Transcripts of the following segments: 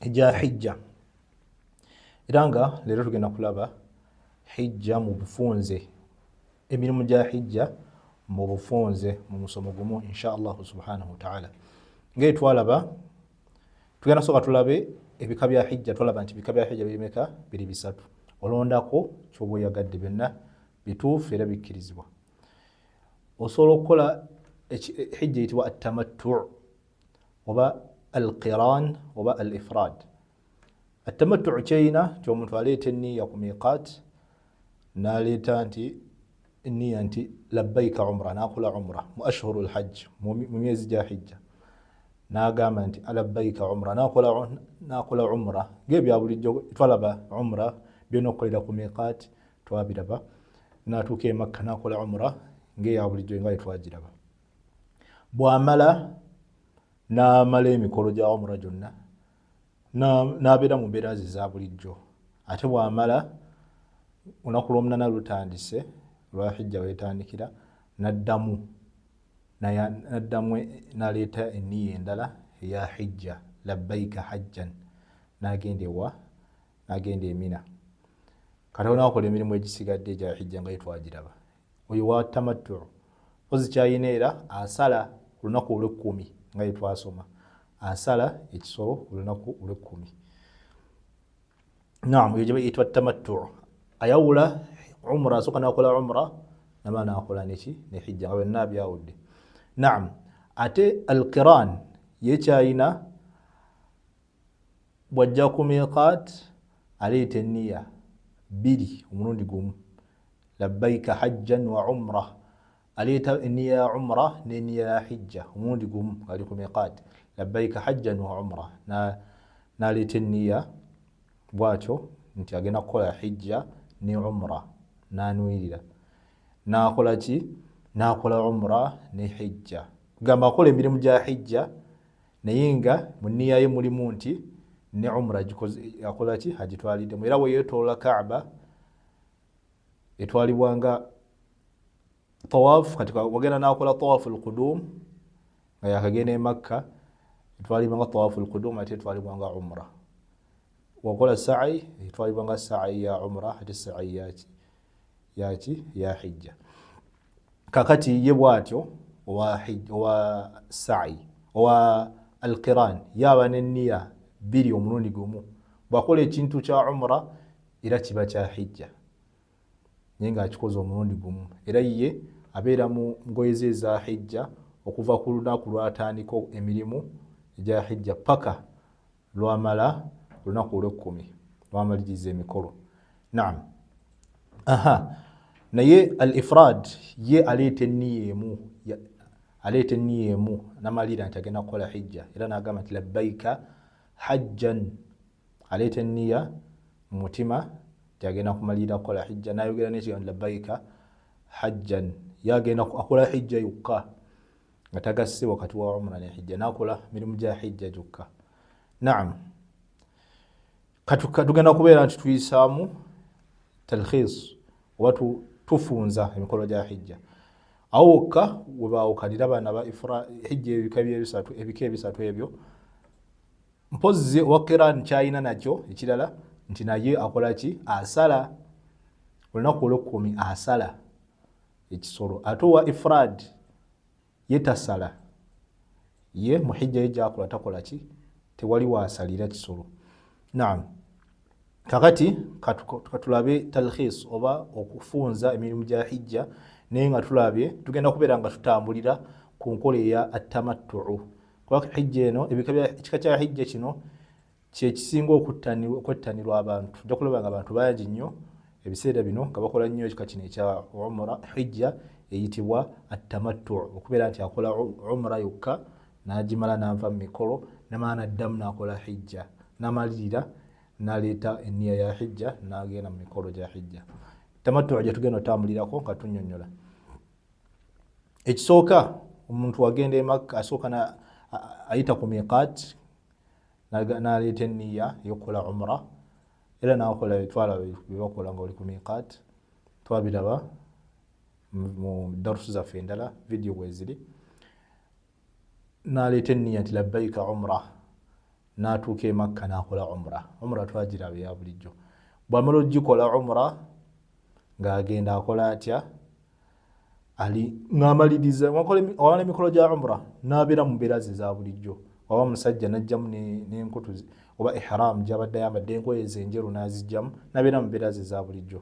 egya hijja era nga leero tugenda kulaba hijja mu bufunze emirimu gya hijja mu bufunze mu musomo gumu insha allahu subhanahu wataala ngaeri twalaba tugenda sooka tulabe ebika bya hijja twalaba nti ebika bya hijja birimeka biri bisatu olondako kyoba oyagadde byonna bituufu era bikkirizibwa osobola okukola hijja eyitibwa attamattu oba al qiran oba al ifrad attamattu kyeyina nti omuntu aleeta enniya ku miqat naleeta nti enniya nti labbaika umra nakola umra mu ashhuru lhajj mu myezi gya hijja nagamba nti alabbaika umra nakola umra ngebyabulijjo twalaba umra byona okukolera ku miqat twabiraba natuuka emakka nakola umra ngeyabulijjo nga etwagiraba bw'amala n'amala emikolo gya umura gyonna n'abeera mu mbeera ze za bulijjo ate bw'amala olunaku lw'omunana lutandise lwa hijja weetandikira n'addamu naddamu naleeta eniya endala eya hijja labbaika hajjan nagenda ewa nagenda emina kati olinakola emirimu egisigadde egya hijja nga yetwagiraba oyo wa tamattu mpozi kyayina era asala ku lunaku olwekkumi nga yetwasoma asala ekisolo ku lunaku olwekkumi nam oyo gyebayitwa tamattu ayawula umra asooka nakola umra naba nakola neki nehijja nga byonna byawudde nam ate alkiran yekyayina bwajja ku miqat aleeta enniya bbiri omulundi gumu labbaika hajjan wa umra aleeta enniya ya umra n'enniya ya hijja omulundi gumu ali ku miqat labbaika hajjan wa umra n'aleeta enniya bwatyo nti agenda kukola hijja ne umra n'anwirira n'akola ki n'akola umra ne hijja gamba akola emirimu gya hijja naye nga mu nniya ye mulimu nti ne umra akola ki agitwaliddemu era weyetolola kaaba etwalibwanga tawaf kati wagenda nakola tawafu lkudum nga yakagenda emakka etwalibwanga tawafu lkudum ate etwalibwanga umra wakola sai etwalibwanga sai ya umra ate sai yaki yaki ya hijja kakati ye bwatyo owa sai owa alqiran yaba neniya biri omulundi gumu bwakola ekintu kya umra era kiba kya hijja naye nga akikoze omulundi gumu era ye abeera mu ngoyeze eza hijja okuva ku lunaku lwatandika emirimu egya hijja paka lwamala olunaku olwekkumi lwamaliriza emikolo naam aha naye al ifrad ye aleeta enniya emu aleeta enniya emu namalira nti agenda kukola hijja era nagamba nti labbaika hajjan aleeta enniya mu mutima nti agenda kumalira kukola hijja nayogera nekigambo labbaika hajjan ye agenda akola hijja yokka nga tagasse wakati wa umra ne hijja nakola mirimu gya hijja gyokka naam tugenda kubeera nti tuyisaamu talkhis oba tufunza emikolo gya hijja awo wokka webaawukanira baana ba hijja ebika byebisatu ebika ebisatu ebyo mpozzi owa kiran kyalina nakyo ekirala nti naye akola ki asala olunaku olwekumi asala ekisolo ate owa ifrad ye tasala ye muhijja ye gyakola takola ki tewali wasalira kisolo naam kakati katulabe talkhis oba okufunza emirimu gya hijja naye nga tulabye tugenda kubeera nga tutambulira ku nkola eya attamattuu kuba hijja eno ekika kya hijja kino kyekisinga okwettanirwa abantu ojja kulaba nga abantu bangi nnyo ebiseera bino nga bakola nnyo ekika kino ekya umura hijja eyitibwa attamattu okubeera nti akola umura yokka n'agimala n'anva mu mikolo namala naddamu n'akola hijja namalirira naleeta enniya ya hijja n'agenda mu mikolo gya hijja tamattu gye tugenda otambulirako nga tunyonyola ekisooka omuntu agenda emakka asooka ayita ku miqaati naleeta eniya eyokukola umra era nakola etwala byebakola nga oli ku miqat twabiraba mu darusu zaffe endala vidiyo weziri naleeta eniya nti labbaika umra natuuka emakka nakola umra umra twagiraba eya bulijjo bwamala ogikola umra ng'agenda akola atya ali ng'amaliriza awala emikolo gya umra n'abeera mu mbeera ze za bulijjo oba musajja n'ajjamu n'enkutu oba ihram gy'abadde ayambadde engoye ze enjeru n'azijjamu n'abeera mu mbeera ze za bulijjo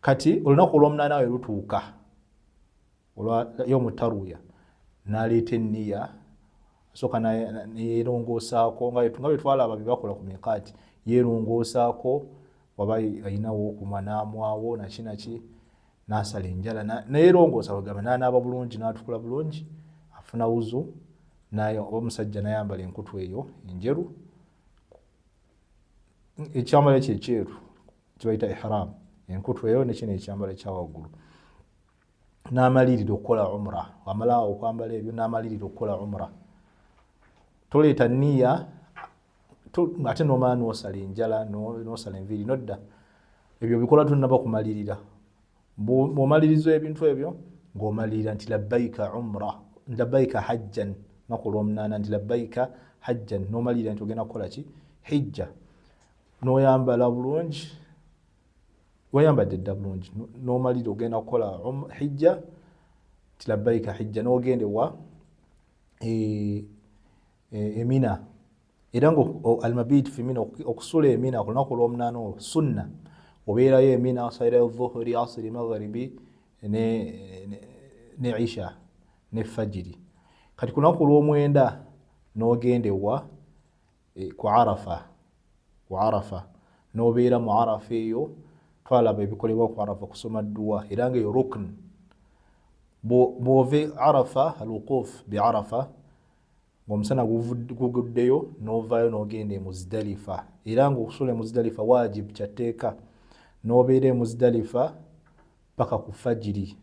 kati olunaku olw'omunaana we lutuuka olwa yomu taruya naleeta enniya asooka neyerongoosaako nga bwetwalaba byebakola ku mikaati yerongoosaako waba ayinawo okuma namwawo nakinaki nasala enjala neyerongoosa wegamba nanaaba bulungi natukula bulungi afuna wuzu naye oba omusajja nayambala enkutu eyo enjeru ekyambalo ekyo ekyeru kibaita ihram enkutu eyo nekino ekyambalo ekyawaggulu n'amalirira okukola umra wamala okwambala ebyo n'amalirira okukola umra toleeta niya ate nomala nosala enjala nosala enviiri nodda ebyo bikola tunaba kumalirira bwomaliriza ebintu ebyo ngaomalirira nti labbaika umra labbaika hajjan naku lwomunaana nti labbaika hajjan nomalirira nti ogenda kukola ki hijja noyambala bulungi wayambadde dda bulungi nomalira ogenda kukola um, hijja nti labbaika hijja nogenda ewa e, e, emina era nga almabiiti femina okusula emina ku lunaku olwomunaana olwo sunna obeerayo emina osalirayo dhuhuri asiri magharibi ne isha ne fajiri kati ku lunaku olwomwenda nogenda ewa eh, ku arafa ku arafa nobeera mu arafa eyo twalaba ebikolebwa ku arafa kusoma dduwa era nga eyo rukn bwove arafa alwukuf bi arafa ngaomusana guguddeyo novayo nogenda emuzidalifa era nga okusula emuzidalifa wajib kyatteeka nobeera emuzidalifa paka ku fajiri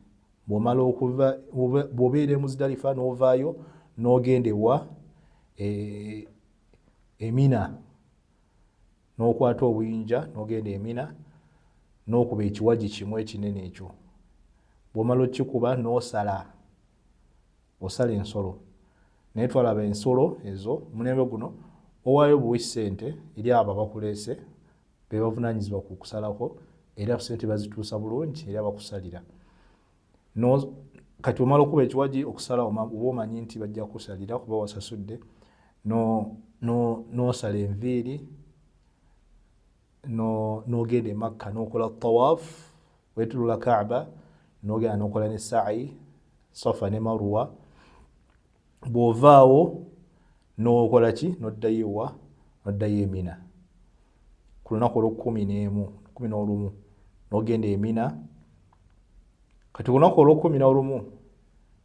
bwomala okuva bwobeera e muzidalifa novaayo nogenda ewa e, emina nokwata obuyinja nogenda emina nokuba ekiwaji kimu ekinene ekyo bwomala okikuba nosala osala ensolo naye twalaba ensolo ezo mulembe guno owayo buwi sente eri abo abakulese bebavunanyizibwa ku kusalako era sente bazituusa bulungi era bakusalira no kati omala okuba ekiwagi okusala oba omanyi nti bajja kusalira kuba wasasudde nosala enviiri nogenda emakka nokola tawaf wetulula kaaba nogenda nokola ne saai safa ne maruwa bw'ovaawo n'okola ki n'oddayo ewa n'oddayo emina ku lunaku olw'okkumi n'emu kumi n'olumu n'ogenda emina kati ku lunaku olw'okkumi n'olumu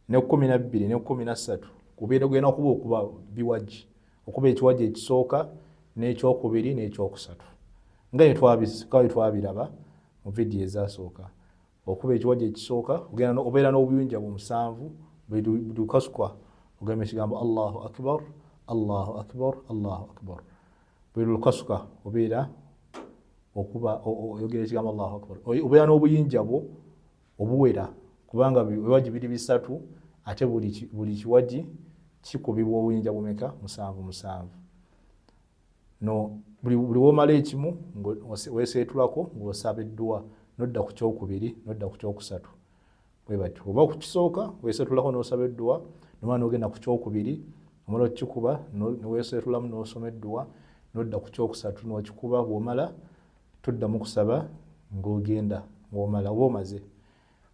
n'ekkumi na bbiri n'ekkumi na ssatu kubeera ogenda okuba okuba biwagi okuba ekiwagi ekisooka n'ekyokubiri n'ekyokusatu nga twabiraba mu vidiyo ezasooka okuba ekiwaji ekisooka obeera n'obuyunja bwe musanvu bwedukasukwa ogamba ekigambo allahu akbar allahu akbar allahu akbar bwedukasuka obeera okuba oyogera ekigambo allahu akbar obeera n'obuyinja bwo obuwera kubanga biwaji biri bisatu ate buli kiwaji kikubibwa obuyinja bumeka musanvu musanvu no buli womala ekimu weseetulako ng'osaba edduwa nodda ku kyokubiri nodda ku kyokusatu bwe batyo oba ku kisooka weseetulako n'osaba edduwa nomala n'ogenda ku kyokubiri omala okukikuba neweseetulamu n'osoma edduwa nodda ku kyokusatu n'okikuba bw'omala toddamu kusaba ng'ogenda ng'omala oba omaze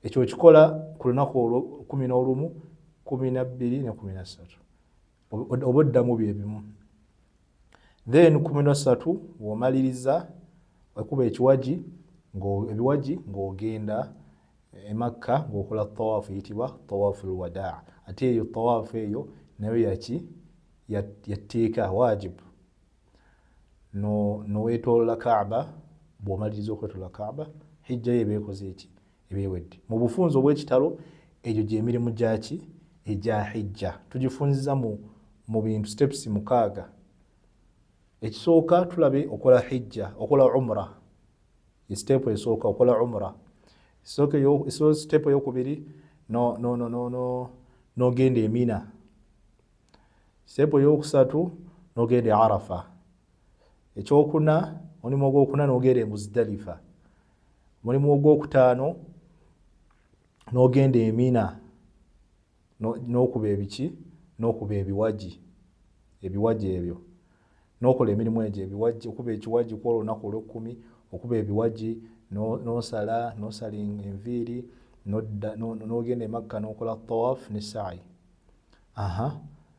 ekyo okikola ku lunaku kumi n'olumu kumi nabbiri ne kumi nassatu oba oddamu bye bimu then kumino satu womaliriza ekuba ekiwagi ebiwagi ng'ogenda emakka ng'okola tawaafu eyitibwa tawaafu lwadaa ate eyo tawaafu eyo nayo yaki yatteeka wajibu nowetolola kaaba bwomaliriza okwetola kaaba hijjayo ebeekoze eki ebyewedde mu bufunzi obw'ekitalo egyo gy'emirimu gyaki egya hijja tugifunziza mu mu bintu steps mukaaga ekisooka tulabe okola hijja okola umra step esooka okola umra step eyokubiri nogenda emina step eyokusatu nogenda e arafa ekyokuna omulimu ogwokuna nogenda e muzidalifa mulimu ogwokutaano n'ogenda emina n'okuba ebiki n'okuba ebiwagi ebiwagi ebyo n'okola emirimu egyo ebiwagi okuba ekiwagi kwolwo olunaku olwekkumi okuba ebiwagi n'osala n'osala enviiri n'ogenda emakka n'okola tawaf ne saayi aha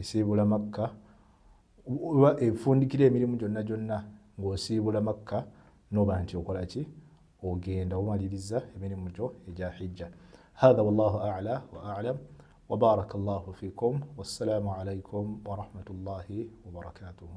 Esiibula Makka oba efundikira emirimu gyonna gyonna ng'osiibula Makka noba nti okola ki ogenda omaliriza emirimu gyo egya hijja hatha wallahu ala wa alam wabaraka llahu fikum wassalamu alaikum warahmatullahi wabarakatuhu